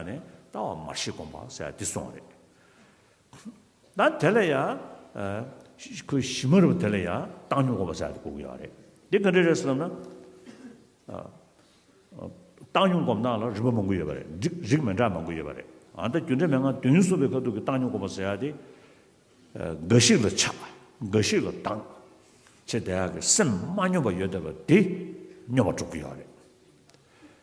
ནས་ལྟ་བ་མར་ཤེས་སྒོམ་པ་ཟེར་བ་འདི་སོང་བ་རེད། ད་དེ་ལ་ཡང་ཁོས་གཞི་མ་རེད་པ་དེ་ལ་ཡང་བཏང་སྙོམས་སྒོམ་པ་ཟེར་བ་འདི་གོ་གི་ཡོད་རེད། འདི་ག་འདྲས་རེད་ཟེར་ན། བཏང་སྙོམས་སྒོམ་སྟངས་ལ་རིམ་པ་མང་པོ་ཡོད་པ་རེད། རིགས་མི་འདྲ་མང་པོ་ཡོད་པ་རེད། ད་རྒྱུ་འབྲས་མན་ངག་དོན་གཉིས་གསུངས་པའི་ཁ་ཐུག་གི་བཏང་སྙོམས་སྒོམ་པ་ཟེར་བ་དེ། འགའ་ཞིག་ལ་ཆགས། འགའ་ཞིག་ལ་སྡང། ཆེས་དལ་ཡག་གི་སེམས་མ་སྙོམས་པ་ཡོད་བསྡད་པ་དེ་སྙོམས་པ་གྲུབ་ཀྱི་ཡོད་རེད།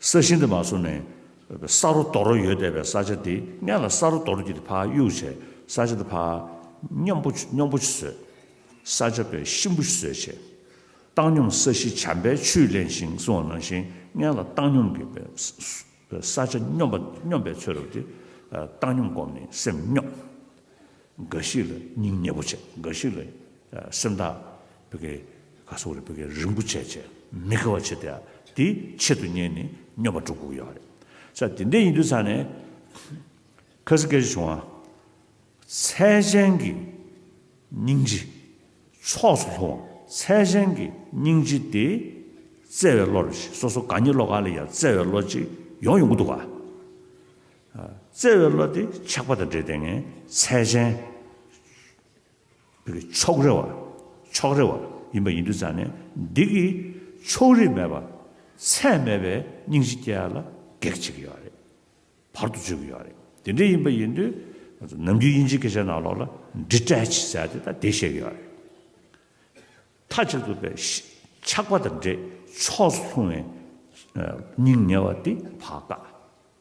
ས་ཞིང་དུ་མ་སོང་ནས། ས་རོ་རྡོ་རོ་ཡོད་བསྡད་པའི་ས་ཆ་དེ་སྙན་ལ་ས་རོ་རྡོ་རོ་གྱིས་ཕ་གཡུག་བྱས་ས་ཆ་དེ་ཕ། སྙོམས་པོ་སྙོམས་པོ་བཟོས། ས་ཆ་པའི་ཤིང་བུ་བཟོས་བྱས། བཏང་སྙོམས་ས་གཞི་བྱམས་པའི་ཆུས་བརླན་ཞིང་བསྲུང་བ་ནང་བཞིན་སྙན་ལ་བཏང་སྙོམས་ཀྱི་བས། ས་ཆ་སྙོམས་པ་སྙོམས་པའི་ཚོད་རོ་དེ། བཏང་སྙོམས་བསྒོམས་ནས་སེམས་སྙོམས། འགའ་ཞིག་ལ་སྙིང་མཉེས་པོ་བྱེད། འགའ་ཞིག་ལ་སེམས་ཐག་བེད་ཀའི་ག་སོགས་རེད་བེད་ཀའི་རིན་པོ་ཆེ་བྱེད་མི་དགེ་བ་བྱེད་དེ་དེ་ཆེད་དུ་གཉེན་ནི་སྨྱོ་པ་དྲུག་གུག་ཡོད་རེད་ས་དེ་འདྲས་ཡིན་དུས་ཚང་ནས་ཁ་སི་ཀ་ཅི་བྱུང་ཨ། ཚད་ཅན་གྱི་སྙིང་རྗེ་ཕྱོགས་སུ་ལྷུང་བ་ཚད་ཅན་གྱི་སྙིང་རྗེ་དེ་བརྩེ་བའི་བློ་རེད་སོ་སོ་གང་ཉིད་བློ་ག་ལ་ཡང་བརྩེ་བའི་བློ་ཅིག་ཡོང་ཡོང་གི་འདུག་ག། བརྩེ་བའི་བློ་དེ་ཆགས་པ་དང་འབྲེལ་ཏེ་ངའི་ཚད་ཅན། ཕྱོགས་རེ་བ། ཕྱོགས་རེ་བ་ཡིན་པ་ཡིན་དུས་ཙམ་ནས་སྡིག་གི་ཕྱོགས་རིས་མེད་པར་ཚད་མེད་པའི་སྙིང་རྗེ་སྐྱེ་བ་ལ་གེགས་བྱེད་ཀྱི་ཡོད་རེད། བར་དུ་གཅོད་ཀྱི་ཡོད་རེད། དེ་འདྲ་ཡིན་པ་ཡིན་དུས་ང་ཚོ་ནམ་རྒྱུན་དབྱིན་ཇིའི་སྐད་ཆ་ནང་ལོགས་ལ་འདྲི་སྤྲད་བྱེད་ས་དེ་དང་དེ་བཤད་ཀྱི་ཡོད་རེད། མཐའ་གཅིག་ཏུ་པའི་ཆགས་པ་དང་འདྲེས་ཕྱོགས་སུ་ལྷུང་བའི་སྙིང་ཉེ་བ་དེ་བག་དཀའ།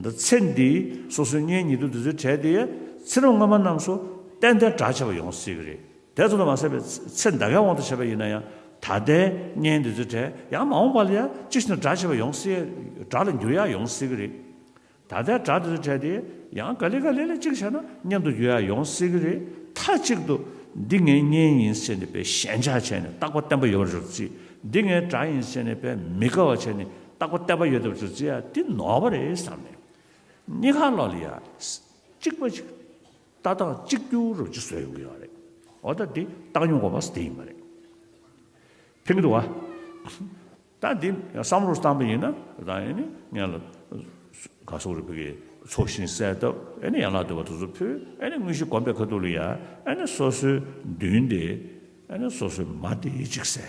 འདི་ཚེ་འདི་སོ་སོའི་གཉེན་ཉེ་དུ་འདི་ཚོའི་གྲས་དེ་ཚེ་རབས་སྔ་མ་རྣམས་སུ་ཏན་ཏན་གྲགས་ཆེ་བ་ཡོང་སྲིད་གི་རེད་དེ་ཚོ་ལ་མ་ཟད་པའི་ཚེ་འདའ་ཁའི་དབང་དུ་བྱས་པ་ཡིན་ན་ཡང་ད་ལྟའི་གཉེན་འདི་ཚོའི་གྲས་ཡང་མ་འོངས་པ་ལ་ཡང་ཅི་ཞིག་ན་གྲགས་ཆེ་བ་ཡོང་སྲིད་གྲགས་ལ་འགྱུར་ཡག་ཡོང་སྲིད་གི་རེད་ད་ལྟའི་གྲགས་འདི་ཚོའི་གྲས་དེ་ཡང་ག་ལེ་ག་ལེ་ལ་གཅིག་བྱས་ན་མཉམ་དུ་འགྱུར་ཡག་ཡོང་སྲིད་གི་རེད་མཐའ་གཅིག་ཏུ་འདི་ངའི་གཉེན་ཡིན་ཟེར་ནས་པའི་ཞེན་ཆགས་བྱས་ནས་རྟག་པ་བརྟན་པོ་ཡོང་རོགས་གྱིས་འདི་ངའི་གྲགས་ཡིན་ཟེར་ནས་པའི་མི་དགའ་བ་བྱས་ནས་རྟག་པ་བལྟ་བ་ཡོད་སྟབས་ཟུར་ཟའི་འདི་ནོར་བ་རེད་བསམ་ནས། གཉིས་ཁ་ལོག་ལ་ཡ། གཅིག་པ་ཞིག། ལྟ་སྟངས་གཅིག་གྱུར་རུ་གཅིག་བཟོས་ཡོང་གི་ཡོད་རེད། འོ་ད་འདི་བཏང་མྱོང་གོ་བས་དེ་ཡིན་པ་རེད། ཕན་གི་འདུག་ཨ། ད་འདི་བསམ་བློར་བཏང་པ་ཡིན་ན་ད་ཡིན་ནི་ངས་ལ། ག་སོག་རུ་ཕེ་གི་ཚོགས་ཞིང་གསལ་སྟབས་ཨེ་ནི་ཡན་ལག་དུ་བ་དུ་ཚོ་ཕུལ་ཨེ་ནི་དངོས་གཞི་གོམ་པའི་ཁ་ཐུག་ལ་ཡ་ཨེ་ནི་སོ་སོའི་མདུན་དེ་ཨེ་ནི་སོ་སོའི་མ་དེ་ཡིད་གཅིག་གསལ།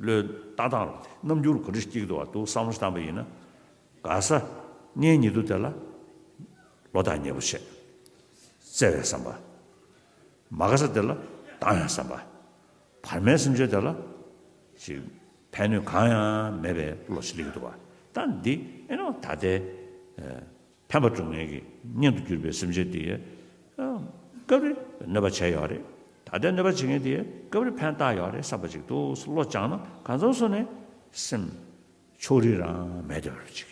བློས་བཏང་དང་རྣམ་འགྱུར་གོ་སྒྲིག་གཅིག་ཏུ་བ་འདུག་བསམ་བློ་བཏང་པ་ཡིན་ན། ག་ས་ངན་ཉིད་དུ་དེ་ལ་བློ་ཐག་ཉེ་པོ་བྱེད། བརྩེ་བའི་བསམ་པ། མ་ག་ས་དེ་ལ་བཏང་ཡང་བསམ་པ། བར་མའི་སེམས་ཅན་དེ་ལ་ཞིག་ཕན་ནུས་གང་ཡང་མེད་པའི་བློ་ཞིག་ལེགས་འདུག་བ་ལྟ་འདི་ཨེ་ནོ་ད་ལྟའི། ཕན་པ་འབྱུང་ངེས་ཀྱི་གཉེན་དུ་གྱུར་པའི་སེམས་ཅན་དེའི། སྐབས་རེ་གནོད་པ་བྱས་ཡོད་རེད། ད་ལྟའི་གནོད་པ་བྱེད་མཁན་དེའི་སྐབས་རེ་ཕན་བཏགས་ཡོད་རེད་བསམ་པ་ཅིག་འདུག་བློ་སྦྱངས་ན་གང་མཚམས་སུ་ནས་སེམས། ཕྱོགས་རིས་རང་མེད་དེ་རེད་ཅིག།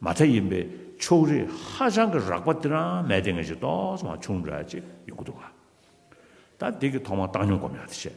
མ་མཐའ་ཡིན་པའི་ཕྱོགས་རིས་ཧ་ཅང་གི་རགས་པ་དེ་རང་མེད་དེ་ངེས་ཅིག་ཏོག་ཙམ་བྱུང་འདྲ་ཅིག་ཡོང་གི་འདུག་ག། ད་འདི་གི་ཐོག་མར་བཏང་སྙོམས་སྒོམ་ཡག་དེ་བྱས།